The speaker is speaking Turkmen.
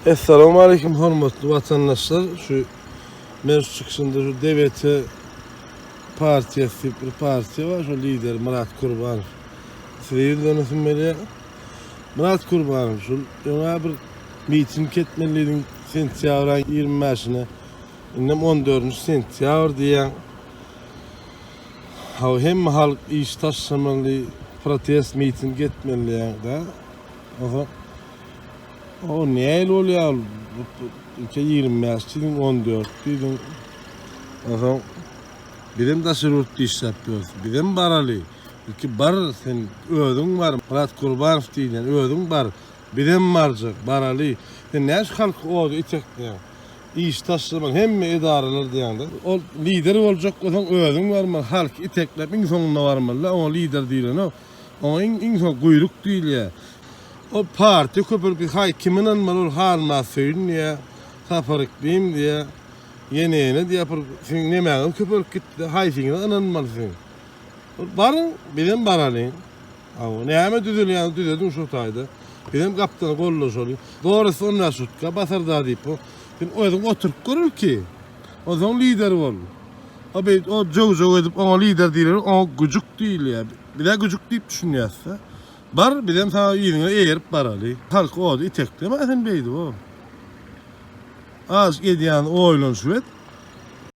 Essalamu aleyküm hormatly watandaşlar. Şu meclis çykyşynda şu DBT partiyasy diýip bir partiýa bar. Şu lider Murat Kurbanow. Size ýüzlenişim berýär. Murat Kurbanow şu öňe bir miting etmelidiň sentýabr aýyň 25-ine. Indi 14-nji sentýabr diýýän. Ha hemme halk iş taşlamaly, protest miting etmeli diýýär. Oho. O näil bolýar? Ilki ýigrimi bäş diýdiň, on dört diýdiň. Onsoň bizem daşary ýurtda işläp ýörüs. Bizem baraly. Ilki bar, sen özüň bar. Myrat Gurbanow diýilýän özüň bar. Bizem barjak, baraly. Sen näme şu halky oda itekleýäň? Iş taşlaman hemme edaralar diýýäňde. Ol lider boljak bolsaň özüň barmaly. Halky itekläp iň soňunda barmaly-da. Oňa lider diýilenok. Oňa iň iň soň guýruk diýilýär. Ol partiýa köpelki haý kim ynanmaly ol halmaz söýün diýýä Sapar Iklim diýýä ýene ýene diýýä pul siziň nemäňiz köpelip gitdi haýsyňyza ynanmaly siziň ol baryň bizem baralyň aw näme düzelýäňiz düzediň şo taýda bizem gapdal gollaşalyň Boris on bäş rutka basarda diýip bu sen özüň oturyp gör ilki. Onsoň lider bol. O beýt o jöw-jöw edip oňa lider diýileni oňa güjük diýilýär. Bizä güjük diýip düşünýäs-de. Bar, bizem saňa yzyňa eýerip baraly. Halk ody iteklemä sen beýdip o. Az edýän oýlanyşyp et.